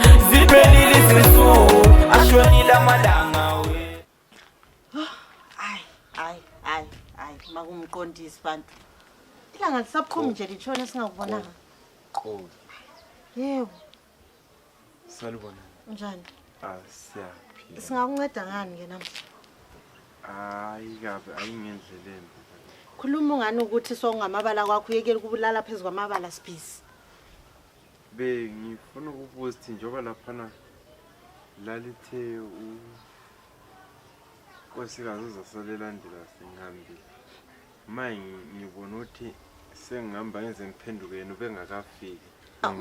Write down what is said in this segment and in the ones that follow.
zipelili zisu ashonila malanga we Hayi, hayi, hayi, hayi, makumqondisi bantu. Ilanga lisaphumi nje litshone singakubonanga. Qoli. Yebo, Salibona. unjani? Ah, siyaphila. Singakunceda ngani ke namhla? Hayi kabi, ayingendleleni. Khuluma ungani ukuthi sokungamabala kwakho uyekela ukubulala phezu kwamabala sibhizi. bengifuna ukubuza ukuthi njengoba laphana lalithe unkosikazi uzasalela ndela sengihambile ma ngibona ukuthi sengihamba ngenze ngiphenduke yena ubengakafiki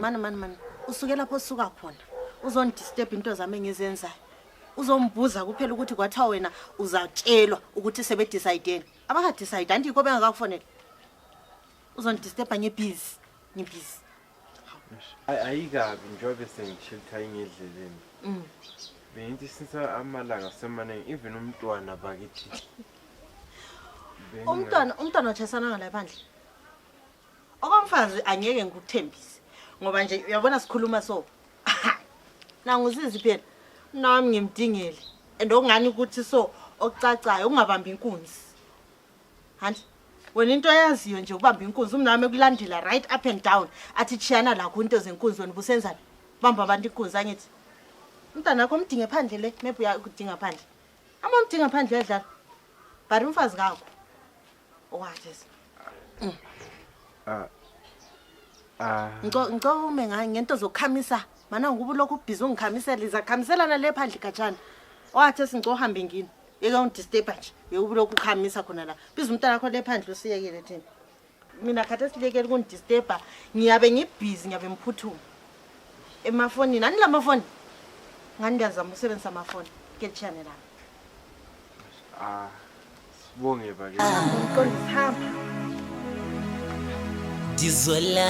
mani mani mani usuke lapho osuka khona uzondisturb into zami engizenzayo uzombuza kuphela ukuthi kwathiwa wena uzatshelwa ukuthi sebedicayideni abakadicayidi andikho bengakakufonela uzondistepa ngebhizi ngebhizi Ay- ayikabi njengobe sengishilitha ingedleleni Mm. bengithi since amalanga semaningi even umntwana bakithi Benginga- umntwana umntwana otshayisana ngala bandla okomfazi angeke ngikuthembise ngoba nje uyabona sikhuluma so nanguzizi phela nami ngimdingele and okungani ukuthi so okucacayo ukungabambi inkunzi Hanti wena into eyaziyo nje ubamba inkunzi umnami ekulandela right up and down athi chiyana lakho into zenkunzi wena ubusenzani bamba abantu inkunzi angithi umntana wakho umdinge phandle le maybe uyakudinga phandle ama umdinga phandle uyadlala but umfazi ngakho owathis mm. ah. ah. ngicela ume ngento zokukhamisa mana nguba ulokhu ubhizi ungikhamisela izakukhambiselana le phandle gatshana owathi singicela uhambe ngini yeke ungidisturba nje yewubile ukukhamisa khona la biza umntana kho le phandle usiyekele thina mina khathi esilekele ukundisturba ngiyabe ngibhizi ngiyabe ngiphuthuma emafonini ani la mafoni ngani ndiyazama ukusebenzisa amafoni kelitshiyane lami ah sibonge bake ndizwela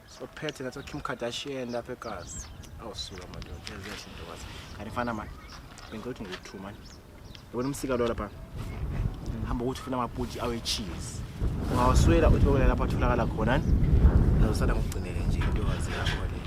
sophethe nathi kim kardashian lapha egazi awusuka madoda eziyashinto kwazi kanti fana mani bengilothi ngiwu-two mani yabona umsika lo lapha hamba ukuthi ufuna amaputi awe-cheese ungawaswela uthi bakwela lapho atholakala khona ni uzosala ngokugcinele nje into wazi yakho le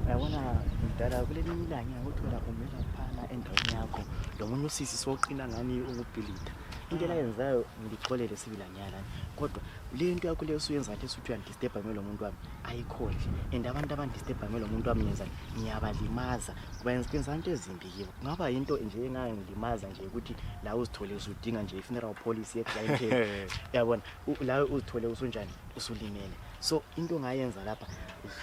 yabona mdala kuleli milanga ngothola umela phana endaweni yakho lo munye usisi soqina ngani ukubhilida into elayenzayo ngilixolele sibilanyana kodwa le nto yakho leyo suyenza nje suthi uyandi disturba ngelo muntu wami ayikhohle and abantu abandisturba ngelo muntu wami ngenzani ngiyabalimaza benza into ezimbi kibo kungaba yinto nje engayo ngilimaza nje ukuthi la uzithole usudinga nje i-funeral policy ye-clientele yabona la uzithole usunjani usulimele so into ongayenza lapha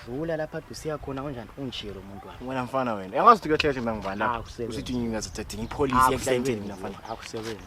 dlula lapha ade usiya khona kunjani ungishiye lo muntu wami wena mfana wena angazi ukuthi kuyohlehle mina ngibani lapha usithi ngingazithathinga ipolisi ye-clientele mina mfana akusebenzi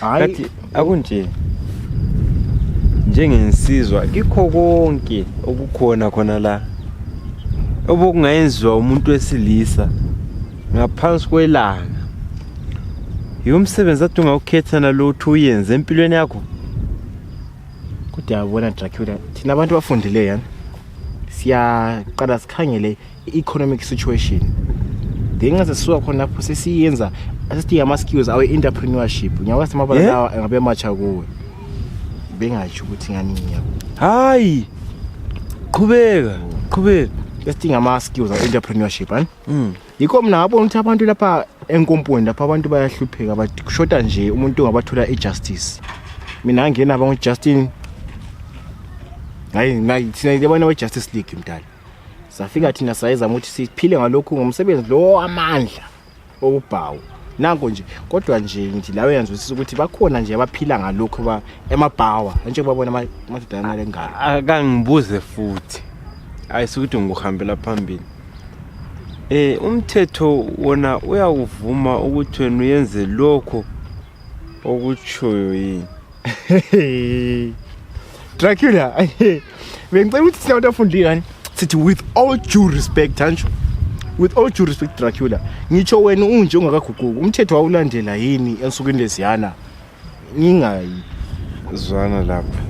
kati akunje njengensizwa kikho konke okukhona khona la obokungayenziwa umuntu wesilisa ngaphansi kwelanga yiwo msebenzi ati ungawukhethana lo uthi uyenze empilweni yakho kodwa yabona dracula thina abantu bafundileyo yani siyaqala sikhangele economic situation then nxa sisuka khonapho sesiyenza sesithi ama-skills awe entrepreneurship ngiyabona semabala Yeah. lawa engabe matsha kuwe bengatsho ukuthi ngani ngiyabo hayi qhubeka qhubeka sesithi ngama-skills awe entrepreneurship ani Mm. yikho mina ngabona ukuthi abantu lapha enkomponi lapha abantu bayahlupheka but kushoda nje umuntu ongabathola i-justice mina ngangena abangujustin hayi nayi- thina abantu abe-justice league mdala safika thina sayezama ukuthi siphile ngalokhu ngomsebenzi lowo amandla okubhawu nanko nje kodwa nje nje lawe yanzwisisa ukuthi bakhona nje abaphila ngalokhu ba emabhawa njengoba bona amadoda amale ngalo akangibuze futhi ayisukuthi ngikuhambela phambili eh umthetho wona uyakuvuma ukuthi wena uyenze lokho okutshoyo yini Dracula, bengicela ukuthi sina abantu afundile sithi with all due respect anjho with all due respect Dracula ngitsho wena unje ungakaguquki umthetho wawulandela yini ensukwini leziyana ngingayi zwana lapha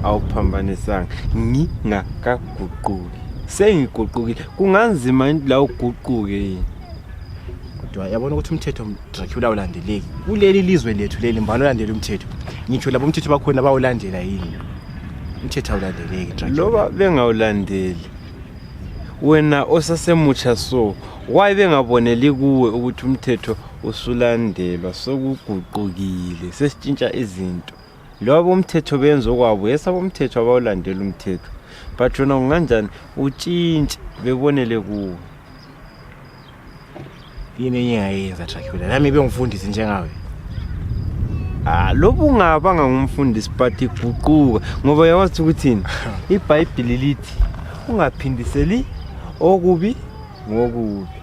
awuphambanisanga ngingakaguquki sengiguqukile kunganzima la uguquke yini kodwa yabona ukuthi umthetho dracula ulandeleki kuleli lizwe lethu leli mbani olandela umthetho ngitsho labo umthetho bakhona bawulandela yini umthetho awulandeleki dracula loba bengawulandeli wena osasemutsha so why bengaboneli kuwe ukuthi umthetho usulandelwa sokuguqukile sesitshintsha izinto loba bomthetho benza okwabo yesa bomthetho abawulandela umthetho but wena kunganjani utshintshe bebonele kuwe yini enye engayenza dracula nami bengifundisi njengawe Ah, lobu ungabanga ngumfundisi but iguquka ngoba yawazi ukuthini ibhayibhili lithi ungaphindiseli okubi ngokubi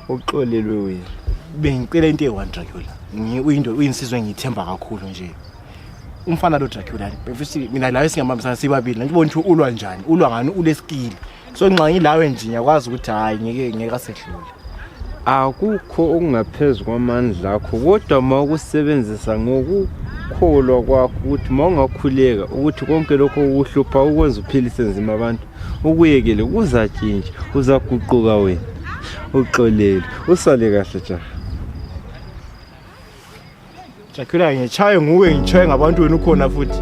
uxolelwe wena bengicela into eyi-one dracula uyinto uyinsizwa engiyithemba kakhulu nje umfana lo dracula befisi mina layo singambambisana sibabili nantibona ukuthi ulwa njani ulwa ngani ulesikili so nxa ngilawe nje ngiyakwazi ukuthi hhayi ngeke ngeke asedlule akukho okungaphezu kwamandla akho kodwa uma ukusebenzisa ngokukholwa kwakho ukuthi uma ungakhuleka ukuthi konke lokho kukuhlupha ukwenza uphilise nzima abantu ukuyekele kuzatshintsha uzaguquka wena uxolele usale kahle jaha jakhula ngitshaye nguwe ngitshaye ngabantu wena ukhona futhi